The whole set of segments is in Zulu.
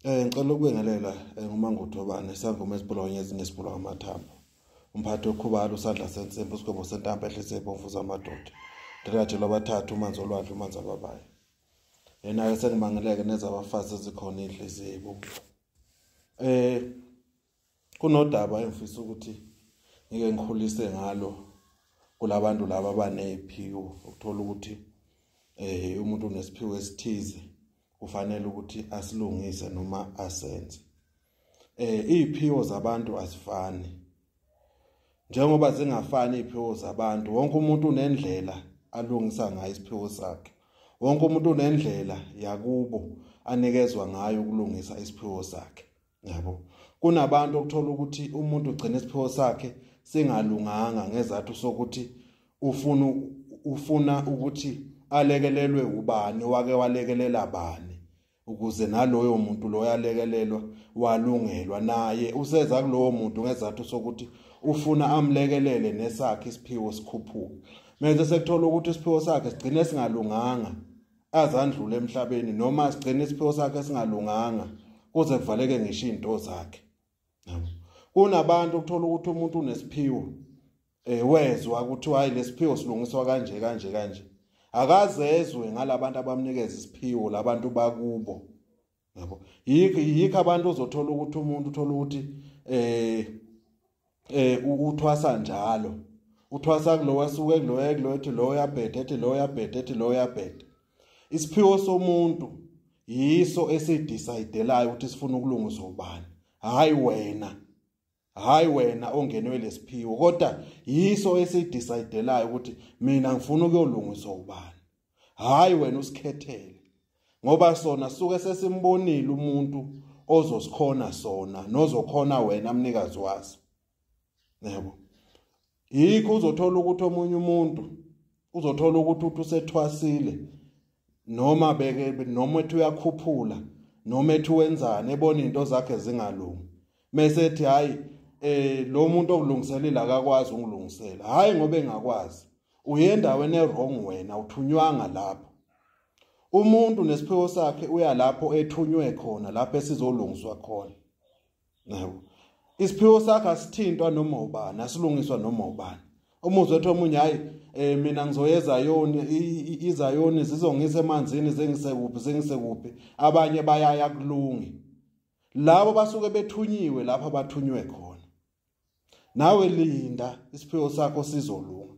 Eh ngicela ukubingelela eh, nguMangudobane sangoma esibulawa ngezinye esibulawa amathambo. Umphathi okhubalo usandla sensimbi usigwebo sentambo ehlise ibomvu zamadoda. Ndirajelwa abathathu umanzi olwandle umanzi ababayo. Yena-ke sengimangeleke nezabafazi ezikhona inhliziyo ibubu. Eh kunodaba engifisa ukuthi ngike ngikhulise ngalo kulabantu laba abaneziphiwo ukuthola ukuthi eh umuntu unesiphiwo esithize kufanele ukuthi asilungise noma asenze eh iziphiwo zabantu azifani njengoba zingafani iziphiwo zabantu wonke umuntu unendlela alungisa ngayo isiphiwo sakhe wonke umuntu unendlela yakubo anikezwa ngayo ukulungisa isiphiwo sakhe yabo kunabantu okuthola ukuthi umuntu ugcina isiphiwo sakhe singalunganga ngezathu sokuthi ufuna ufuna ukuthi alekelelwe ubani wake walekelela bani ukuze naloyo muntu loyo alekelelwa walungelwa naye useza kulowo muntu ngezathu sokuthi ufuna amlekelele nesakhe isiphiwo sikhuphuka manje sekuthola ukuthi isiphiwo sakhe sigcine singalunganga azandlule emhlabeni noma sigcina isiphiwo sakhe singalunganga kuze kuvaleke ngisho izinto zakhe kunabantu ukuthola ukuthi umuntu unesiphiwo eh wezwa ukuthi hayi lesiphiwo silungiswa kanje kanje kanje akazezwe ngalabantu abamnikeza isiphiwo labantu bakubo yabo yikho yikho abantu ozothola ukuthi umuntu uthola ukuthi eh eh uthwasa njalo uthwasa kulowa suke kuloya kuloya ethi lowo yabheda ethi lowo yabheda ethi lowo yabheda isiphiwo somuntu yiso esidecide layo ukuthi sifuna ukulungisa ubani hayi wena hayi wena ongenwe lesiphiwo kodwa yiso esidecidelayo ukuthi mina ngifuna ukuyolungiswa ubani hayi wena usikhethele ngoba sona suke sesimbonile umuntu ozosikhona sona nozokhona wena mnikazi waso yebo yikho uzothola ukuthi omunye umuntu uzothola ukuthi uthi usethwasile noma beke noma ethi uyakhuphula noma ethi wenzani ebona into zakhe zingalungi mese ethi hayi eh lo muntu okulungiselela akakwazi ungilungisela hayi ngoba engakwazi uyendaweni ewrong wena uthunywanga lapho umuntu nesiphiwo sakhe uya lapho ethunywe khona lapho esizolungiswa khona yabo isiphiwo sakhe asithintwa noma ubani asilungiswa noma ubani umuzwe ethi omunye hayi eh mina ngizoyeza yoni izayoni zizongisa emanzini zengise kuphi zengise kuphi abanye bayaya kulungi labo basuke bethunyiwe lapha bathunywe khona nawe linda isiphiwo sakho sizolunga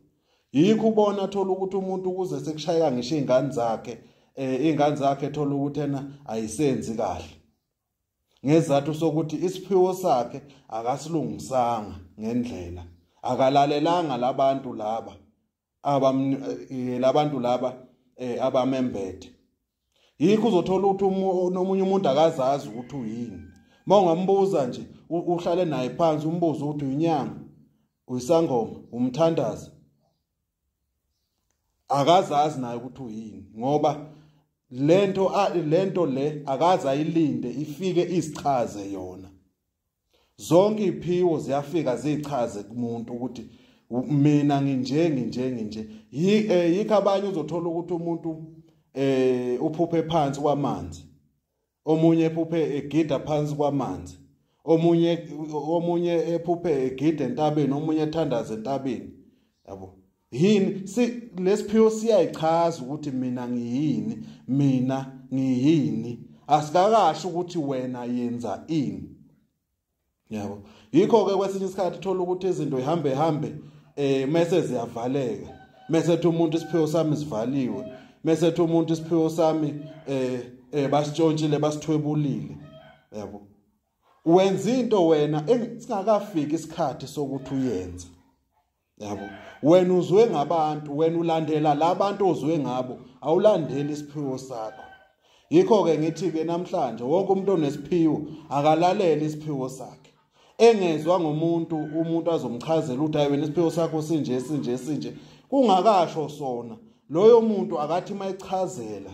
yikho ubona thola ukuthi umuntu ukuze sekushayeka ngisho izingane zakhe eh izingane zakhe thola ukuthi ena ayisenzi kahle ngezathu sokuthi isiphiwo sakhe akasilungisanga ngendlela akalalelanga labantu laba abam eh, labantu laba eh, abamembethe yikho uzothola ukuthi nomunye umuntu akazazi ukuthi uyini uma ungambuza nje uhlale naye phansi umbuzo ukuthi uyinyanga uyisangoma umthandazi akazazi naye ukuthi uyini ngoba lento lento le akaza ayilinde ifike isichaze yona zonke iphiwo ziyafika zichaze kumuntu ukuthi mina nginje nginje nginje eh, yikho abanye uzothola ukuthi umuntu eh uphuphe phansi kwamanzi omunye ephuphe egida phansi kwamanzi omunye omunye ephuphe egida entabeni omunye ethandaza entabeni yabo yini si lesiphiwo siyayichaza ukuthi mina ngiyini mina ngiyini asikakasho ukuthi wena yenza ini yabo yikho ke kwesinye isikhathi thola ukuthi izinto ihambe hambe eh mase ziyavaleka mase ethi umuntu isiphiwo sami sivaliwe mase ethi umuntu isiphiwo sami eh eh basitshontshile basithwebulile yabo wenza into wena singakafiki isikhathi sokuthi uyenze yabo wena uzwe ngabantu wena ulandela labantu ozwe ngabo awulandeli isiphiwo sakho yikho ke ngithi ke namhlanje wonke umuntu onesiphiwo akalalele isiphiwo sakhe engezwa ngomuntu umuntu azomchazela ukuthi hayi wena isiphiwo sakho sinje sinje sinje kungakasho sona loyo muntu akathi mayichazela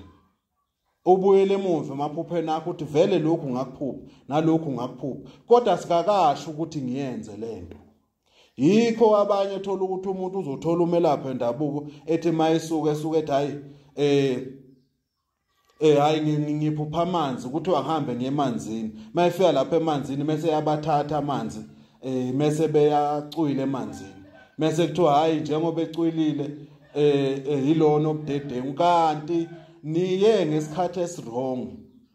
ubuyele emuva emaphupheni akho uthi vele lokhu ngakuphupha nalokhu ngakuphupha kodwa sikakasho ukuthi ngiyenze lento yikho abanye thola ukuthi umuntu uzothola umelaphi endabuko ethi mayisuke esuke ethi hayi eh eh hayi ngiphupha amanzi ukuthi wahambe ngemanzini mayefika lapha emanzini mase yabathatha amanzi eh mese beyacwile emanzini mese kuthiwa hayi njengoba ecwilile eh, eh yilona obudedengu kanti niye ngesikhathi esirong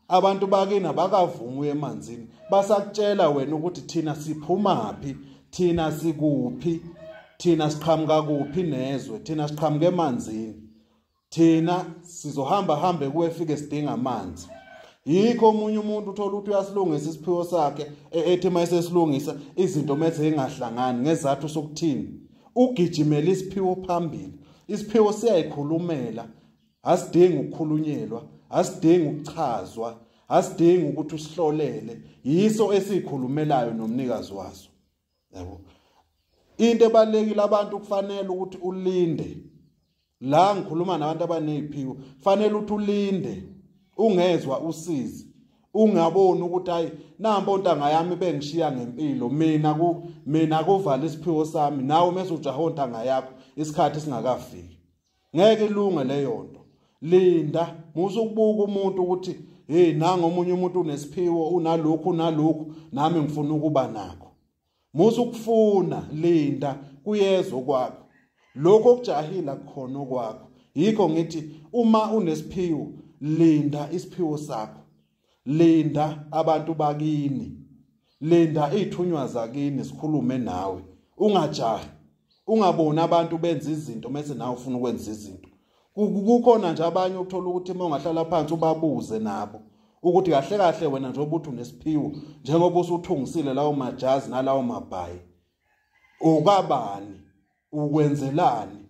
abantu bakina bakavumi emanzini basakutshela wena ukuthi thina siphumaphi thina sikuphi thina siqhamuka kuphi nezwe thina siqhamuka emanzini thina sizohamba hambe kuwe fike sidinga amanzi yikho omunye umuntu uthola ukuthi uyasilungisa isiphiwo sakhe e-, ethi uma esesilungisa izinto mese ingahlangani ngezathu sokuthini ugijimela isiphiwo phambili isiphiwo siyayikhulumela asidingi ukukhulunyelwa asidingi ukuchazwa asidingi ukuthi usihlolele yiso esikhulumelayo nomnikazi waso yabo into ebalekile abantu kufanele ukuthi ulinde la ngikhuluma nabantu abaneziphiko kufanele ukuthi ulinde ungezwa usizi ungaboni ukuthi hayi nampo ntanga yami bengishiya ngempilo mina ku mina kuvala isiphiwo sami nawe mese ujaha ontanga yakho isikhathi singakafiki ngeke ilunge leyo nto linda musa ukubuka umuntu ukuthi hey nanga omunye umuntu unesiphiwo unalokhu unalokhu nami ngifuna ukuba nakho musa ukufuna linda kuyezwa kwakho lokho okujahila kukhona okwakho yikho ngithi uma unesiphiwo linda isiphiwo sakho linda abantu bakini linda izithunywa zakini sikhulume nawe ungajahi ungaboni abantu benza izinto mase nawe ufuna ukwenza izinto kukhona nje abanye ukuthola ukuthi uma ungahlala phansi ubabuze nabo ukuthi kahle kahle wena njengoba uthi unesiphiwo njengoba usuthungisile lawo majazi nalawo mabhayi ukabani ukwenzelani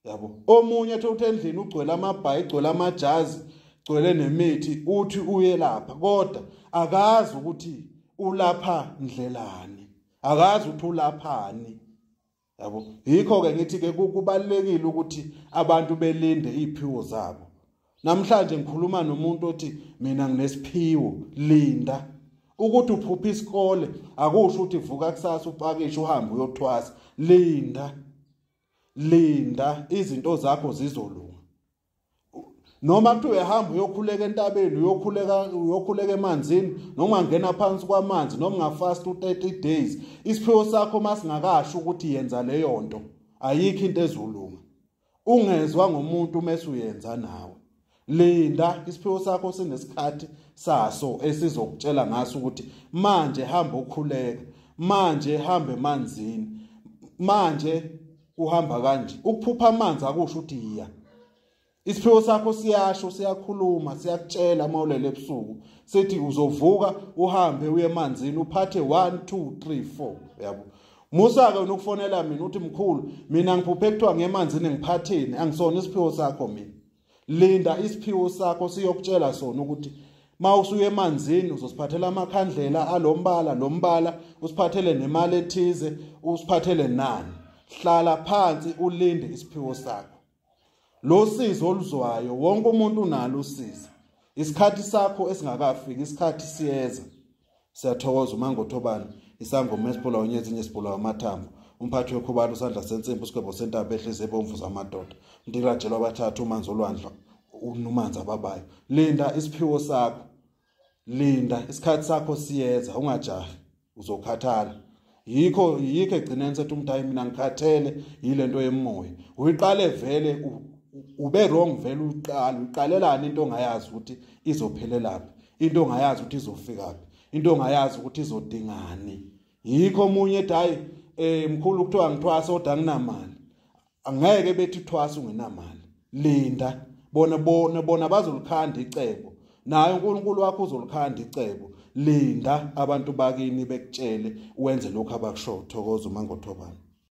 yabo omunye ethe uthi endlini ugcwele amabhayi igcwele amajazi gcwele nemithi uthi uyelapha kodwa akazi ukuthi ulapha ndlelani akazi ukuthi ulaphani yabo yikho ke ngithi ke kubalekile ukuthi abantu belinde iziphiwo zabo Namhlanje ngikhuluma nomuntu othi mina nginesiphiwo linda ukuthi uphupha isikole akusho ukuthi vuka kusasa upakishe uhambe uyothwasa linda linda izinto zakho zizolunga noma kuthi uyahamba uyokhuleka entabeni uyokhuleka uyokhuleka emanzini noma ngena phansi kwamanzi noma ngafast u30 days isiphiwo sakho masingakasho ukuthi yenza leyo nto ayikho into ezolunga ungezwa ngomuntu mase uyenza nawe linda isiphiwo sakho sinesikhathi saso esizokutshela ngaso ukuthi manje hamba ukhuleka manje hambe emanzini manje uhamba kanje ukuphupha amanzi akusho ukuthi yiya isiphiwo sakho siyasho siyakhuluma siyakutshela uma ulele ebusuku sithi uzovuka uhambe uye emanzini uphathe 1 2 3 4 yabo Musa-ke unokufonela mina uthi mkhulu mina ngiphuphe kuthiwa ngemanzini ngiphatheni angisona isiphiwo sakho mina linda isiphiwo sakho siyokutshela sona ukuthi ma usuye emanzini uzosiphathela amakhandlela alombala lombala usiphathele nemali ethize usiphathele nani hlala phansi ulinde isiphiwo sakho lo sizi oluzwayo wonke umuntu unalo usizi isikhathi sakho esingakafiki isikhathi siyeza siyathokoza umangothobani isangoma esibhola unyezi inye sibhola wamathambo umphathi wekhubalo usandla sensimbi usigwebo sentaba ehlezi ebomvu zamadoda ndirajelwa abathathu umanzi olwandla unumanzi ababayo linda isiphiwo sakho linda isikhathi sakho siyeza ungajahi uzokhathala yikho yikho egcineni sethu umthayi mina ngikhathele yilento yemoya uyiqale vele ube wrong vele uqala uqalelana into ongayazi ukuthi izophelelaphi into ongayazi ukuthi izofikaphi into ongayazi ukuthi izodingani yikho omunye ethi hayi eh mkhulu kuthiwa ngithwasa kodwa nginamali angeke bethi thwasa ungenamali linda bona bona bona bazolikhanda icebo naye uNkulunkulu wakho uzolikhanda icebo linda abantu bakini bekutshele wenze lokho abakusho thokoza uma ngothobana